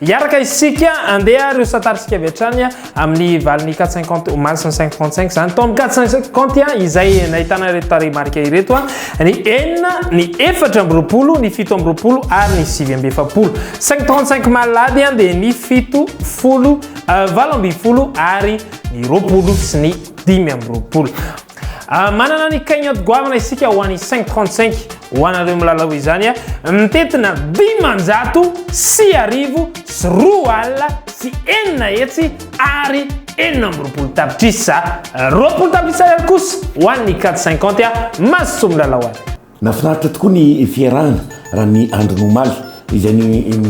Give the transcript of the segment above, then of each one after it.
Hiaraka isika andeha ary hosatarisika avy hatrany amin'ny valin'ny 450 omaly sy 535 izany tamin'ny 450 izay nahitana ireto tarehimarika ireto ny enina ny efatra amby roapolo ny fito amby roapolo ary ny sivy amby efapolo 535 malady dia ny fito folo euh, valo amby folo ary ny roapolo sy ny dimy amby roapolo Ah, manana ny cagnotte goavana isika ho an'i 535 ho anareo milalao izany a ah. mitetina dimanjato sy arivo sy roa alina sy enina hetsy ary enina amby roapolo tapitrisa ah. roapolo tapitrisa ary kosa ho an'ny 450 a masosoa milalao any Nafinaritra tokoa ny fiarahana raha ny andron'ny omaly izay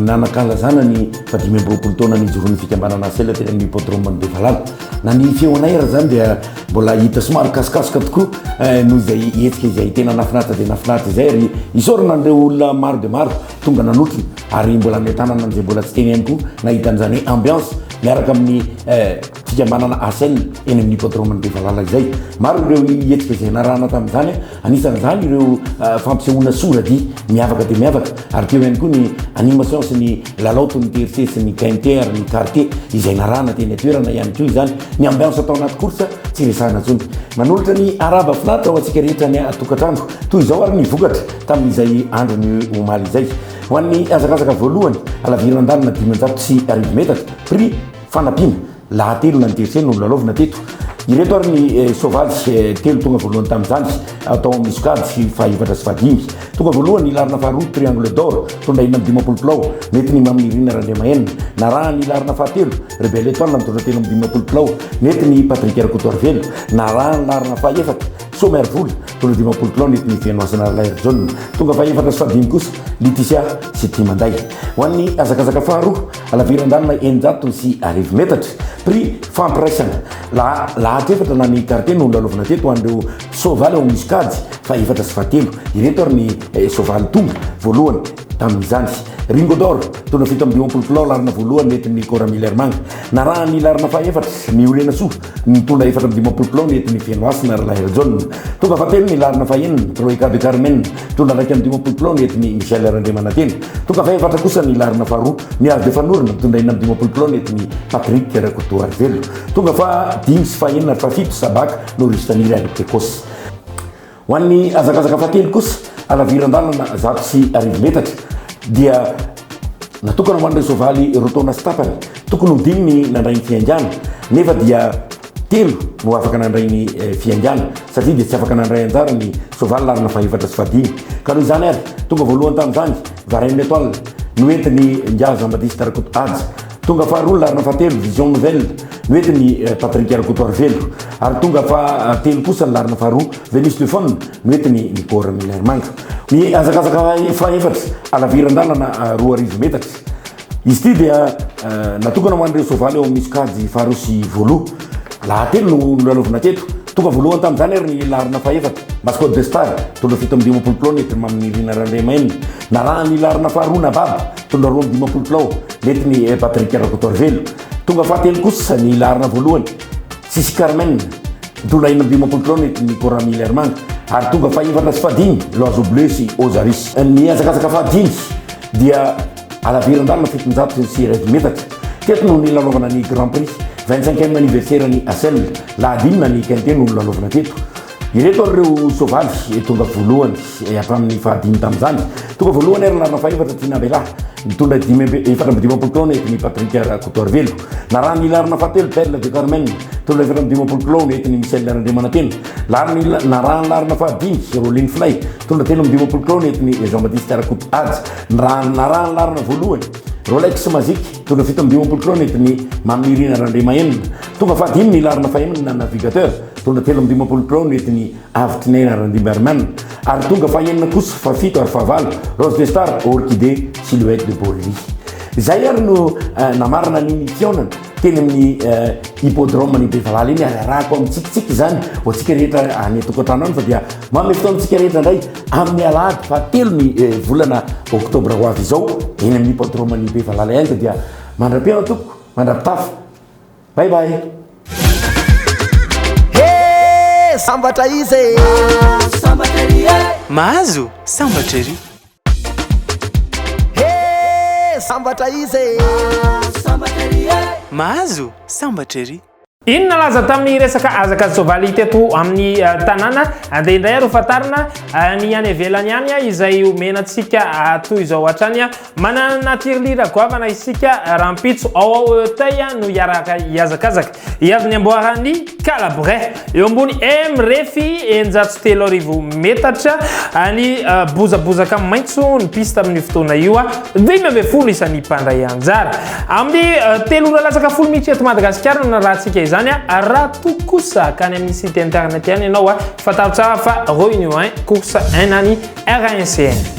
nanankalazana ny fahadimy amby roapolo taona nijoroan'ny fikambanana Asela teny amin'ny hippodrome-n'i Bevalala. Na ny feo anay ary izany dia mbola hita somary kasokasoka tokoa noho izay hetsika izay tena nafinaritra dia nafinaritra izay ary isaorana an'ireo olona maro dia maro tonga nanotrona ary mbola any an-tanana izay mbola tsy teny ihany koa nahita an'izany hoe ambiance miaraka amin'ny fikambanana Asela eny amin'ny hippodrome-n'i Bevalala izay. Maro ireo hetsika izay narahana tamin'izany. Anisan'izany ireo fampisehoana sora-dihy miavaka dia miavaka ary teo ihany koa ny animation sy ny lalao toy ny tiercé sy ny quinté ary ny quarté izay narahana teny an-toerana ihany koa izany. Ny ambiance atao anaty course tsy resahina intsony. Manolotra ny haraba finaritra ho antsika rehetra any an-tokantrano. Toy izao ary ny vokatra tamin'izay andron'ny omaly izay. Ho an'ny hazakazaka voalohany, halavirana an-dalana dimanjato sy arivo metatra, prix fanampiana. Lahatelo na ny verset no nolalaovina teto. Ireto ary ny soavaly telo tonga voalohany tamin'izany, tao amin'ny sokajy fahaefatra sy fahadimy. Tonga voalohany ny laharana faharoa, triangle d'or, tondra enina amby dimampolo kilao, nety ny Mamy Nirina Randriamahenina. Narahan'ny laharana fahatelo, Rebelle Etoile, mitondra telo amby dimampolo kilao, nety ny Patrick Rakotoarivelo. Narahan'ny laharana fahefatra, Soa Miarivola, mitondra dimampolo kilao, nety ny Venoasina Ralaherijaona. Tonga fahaefatra sy fahadimy kosa, Liticia sy Timanday. Ho an'ny hazakazaka faharoa. Halaviran-dalana eninjato sy arivo metatra, prix fampiraisana. Lahatra efatra na ny quartier no lalaovina teto ho an'ireo soavaly ao amin'ny sokajy fahefatra sy fahatelo. Ireto ary ny soavaly tonga voalohany tamin'izany. Ringo d'or, taona fito amby dimampolo kilao, laharana voalohany nentin'ny Cora Miller Manga. Narahan'ny laharana fahaefatra, Miorenasoa, ny taona efatra amby dimampolo kilao nentin'ny Fenohasina Ralahirajaona. Tonga fahatelo ny laharana fahenina, Troika de Carmen, Mpitondra iraika amby dimampolo kilao ny eton'i Michel Randriamanantena. Tonga faha-efatra kosa ny laharana faharoa, Miaro Befanorona, mpitondra enina amby dimampolo kilao ny eton'i Patrick Rakotoarivelo. Tonga faha dimy sy faha enina ary faha fito, Sabaka, Norris Taniry ary Pecos. Ho an'ny hazakazaka faha telo kosa, Halaviran-dalana zato sy arivo metatra, dia natokana ho an'ireo soavaly roa taona sy tapany. Tokony ho dimy ny nandray ny fihaingana, nefa dia. Telo no afaka nandray ny fiaingàna satria dia tsy afaka nandray anjara ny soavaly laharana fahefatra sy fahadimy. Ka noho izany ary, tonga voalohany tamin'izany, Varenne Etoile, noentin'i Njaza Mbadisty Rakoto Haja. Tonga faharoa ny laharana fahatelo, Vision Nouvelle, noentin'i Patrick Rakoto Arivelo. Ary tonga fahatelo kosa ny laharana faharoa, Venus de Faune, noentin'i Nicoor Milarimanga. Nihazakazaka fahefatra, halaviran-dalana roa arivo metatra. Izy ity dia natokana ho an'ireo soavaly ao amin'ny sokajy faharoa sy voaloha. Lahatelo no nolalovina teto. Tonga voalohany tamin'izany ary ny laharana fahefatra, Mascot de Star, tondra fito amby dimampolo kilao nety mamin'ny Rina Randriamaina. Narahan'ny laharana faharoa Nababa, tondra roa amby dimampolo kilao, nety ny Patrick Rakotoarivelo. Tonga fahatelo kosa ny laharana voalohany, Sisy Carmen, tondra enina amby dimampolo kilao nety ny Cora Milermanga. Ary tonga fahefatra sy fahadimy, L'Oiseau Bleu sy Ozaris. Ny hazakazaka fahadimy dia. Halavirin-dalana fitonjato sy sy arivo metatra. Teto no nilalaovana ny Grand Prix, vingt cinquième anniversaire an'i Asel. Lahady inona ny quintet no nilalaovana teto? Ireto ary ireo soavaly tonga voalohany hatramin'ny fahadimy tamin'izany. Tonga voalohany ary narina fahefatra Tiana Bella, nitondra dimy amby efatra amby dimampolo kilao nentiny Patrick Rakotoarivelo. Narahan'ny larina fahatelo Belle du Carmen, nitondra efatra amby dimampolo kilao nentiny Michel Randriamanantena. Lariny narahan'ny larina fahadimy Roline Flay, nitondra telo amby dimampolo kilao nentiny Jean Baptiste Rakoto Haja. Ny raharahany laharana voalohany, Rolex Magic, tonga fito amby dimampolo kilaometra ny Mamirina Randriamahenina. Tonga fahadimy ny laharana fahenina na Navigateur, tonga telo amby dimampolo kilaometra ny Avitrinaina Randriambarimana. Ary tonga fahenina kosa, fahafito ary fahavalo, Rose de Star, Orchidée, Silhouette de Borelli. Izay ary no namarana ny nikiaonana. teny amin'ny hippodrome eh, ny bevalala iny ary arahako amin'ny tsikitsiky izany ho antsika rehetra any tokantrano any fa dia manome fotoana antsika rehetra indray amin'ny alahady fahatelo ny eh, volana oktobra ho avy izao eny amin'ny hippodrome ny bevalala ihany fa dia mandra-piaina toko mandra-pitafo bay bay sambatra izy e. sambatra ery e. mahazo sambatra ery Hee sambatra izy e! Mahazo sambatra ery e! Mahazo sambatra ery! Inona laza tamin'ny resaka hazaka sy soavaly hita eto amin'ny eh, tanàna ah, dia indray ary ho fantarina eh, ny any ivelany any ah, izay omena antsika toy izao hatrany. Manana tirlira goavana isika rahampitso ao ao Auteuil no hiaraka hihazakazaka. Hiavy ny amboaran'ny kala breh eo ambony M refy eninjato sy telo arivo metatra any bozabozaka maitso ny piste amin'io fotoana io a dimy ambin'ny folo isan'ny mpandray anjara amin'ny telo ora latsaka folo minitra eto Madagasikara no narahantsika izany a raha toa kosa ka any amin'ny site internet ihany ianao a fantaro tsara fa réunion 1 course 1 any RANCN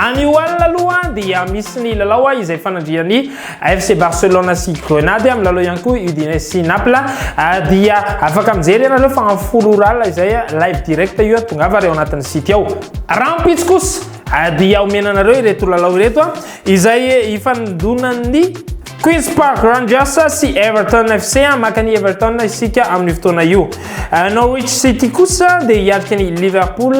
Anio alina aloha dia misy ny lalao izay fanandrian'ny FC Barcelona sy Grenade amin'ny lalao ihany koa Udinese sy Naples dia afaka mijery ianareo fa amin'ny folo ora alina izay live direct io tongava ary ao anatin'ny site ao. Rahampitso kosa dia omena anareo ireto lalao ireto izay ifanindonan'ny Queens Park Rangers sy Everton FC maka ny Everton isika amin'io fotoana io. Norwich City kosa dia hiatrika ny Liverpool,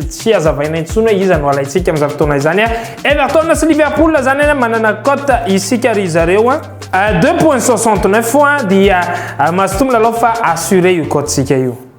tsy hazavaina intsony hoe iza no alaintsika amin'izany fotoana izany. Everton sy Liverpool izany manana cote isika ry zareo 2.69 dia mazotoa milalao fa assuré io cote-tsika io.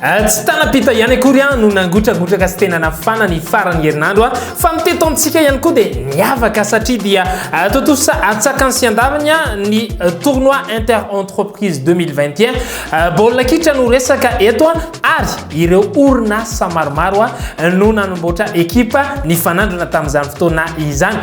Tsy tana-pita ihany akory no nangotragotraka sy tena nafana ny faran'ny herinandro fa ny teto amintsika ihany koa dia niavaka satria dia tontosa atsakany sy andavany ny tournoi inter entreprise 2021 baolina kitra no resaka eto ary ireo orinasa maromaro no nanomboatra ekipa nifanandrina tamin'izany fotoana izany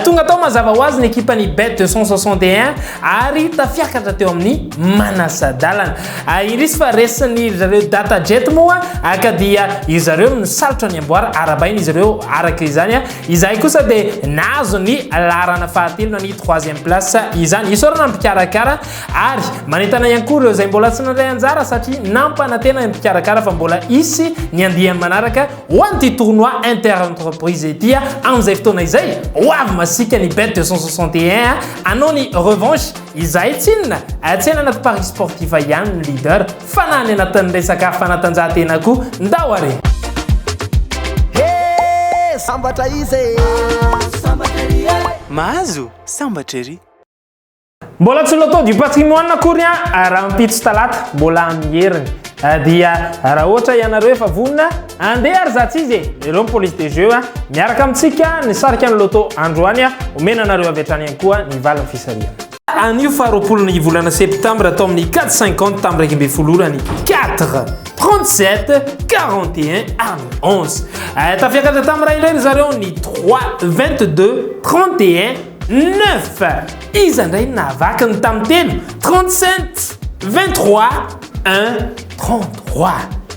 tonga tao mazava ho azy ny ekipan'ny bet 261 ary tafiakatra teo amin'ny manasa-dalana Ah, indrisy fa resin'ny ry zareo Data Jet moa ah, ka dia ry zareo misalotra ny amboara arabaina izy ireo araka izany. Ah. Izahay kosa dia nahazo ny laharana fahatelo na ny troisième place izany. Isaorana ny mpikarakara ary manentana ihany koa ireo izay mbola tsy nandray anjara satria nampanantena ny mpikarakara fa mbola hisy ny andiany manaraka ho an'ity tournoi inter-entreprise ity ah, amin'izay fotoana izay ho avy masika ny bet 261 hanao ny revanche Izahay tsinona, atsenanako paris sportif ihany ny leader fa na any anatin'ny resaka fanatanjahantena koa ndao ary. He! Sambatra izy e! Mahazo sambatra ery. Mbola tsy loto du patrimoine akory an rahampitso talata mbola amin'ny heriny dia raha ohatra ianareo efa vonona Andeha ary za tsizy e! Lereo ny police de jeu a! Miaraka amintsika ny sarika ny loto androany a! Omena anareo avy hatrany ihany koa ny valin'ny fisarihana. Anio faha roapolo ny volana septembre tao amin'ny quatre cinquante tamin'ny iraika ambin'ny folo ora ny quatre trente sept quarante et un aminy onze. Eh, tafiakatra tamin'ny iray indray ry zareo ny trois vingt deux trente et un neuf. Iza indray no nahavaky ny tamin'ny telo trente sept vingt trois un trente trois.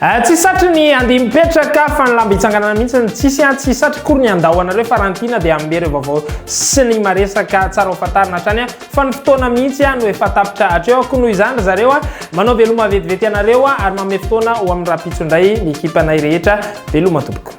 Ah tsisy satry ny andia mipetraka fa ny lamba itsanganana mihitsy ny tsisy ah tsisy satry kory ny andao anareo fa raha ny tiana dia hanome ireo vaovao sy ny maresaka tsara ho fantarina hatrany ah fa ny fotoana mihitsy ah no efa tapitra hatreo ah koa noho izany ry zareo ah manao veloma vetivety anareo ah ary manome fotoana ho amin'ny rahampitso indray ny ekipanay rehetra veloma tompoko.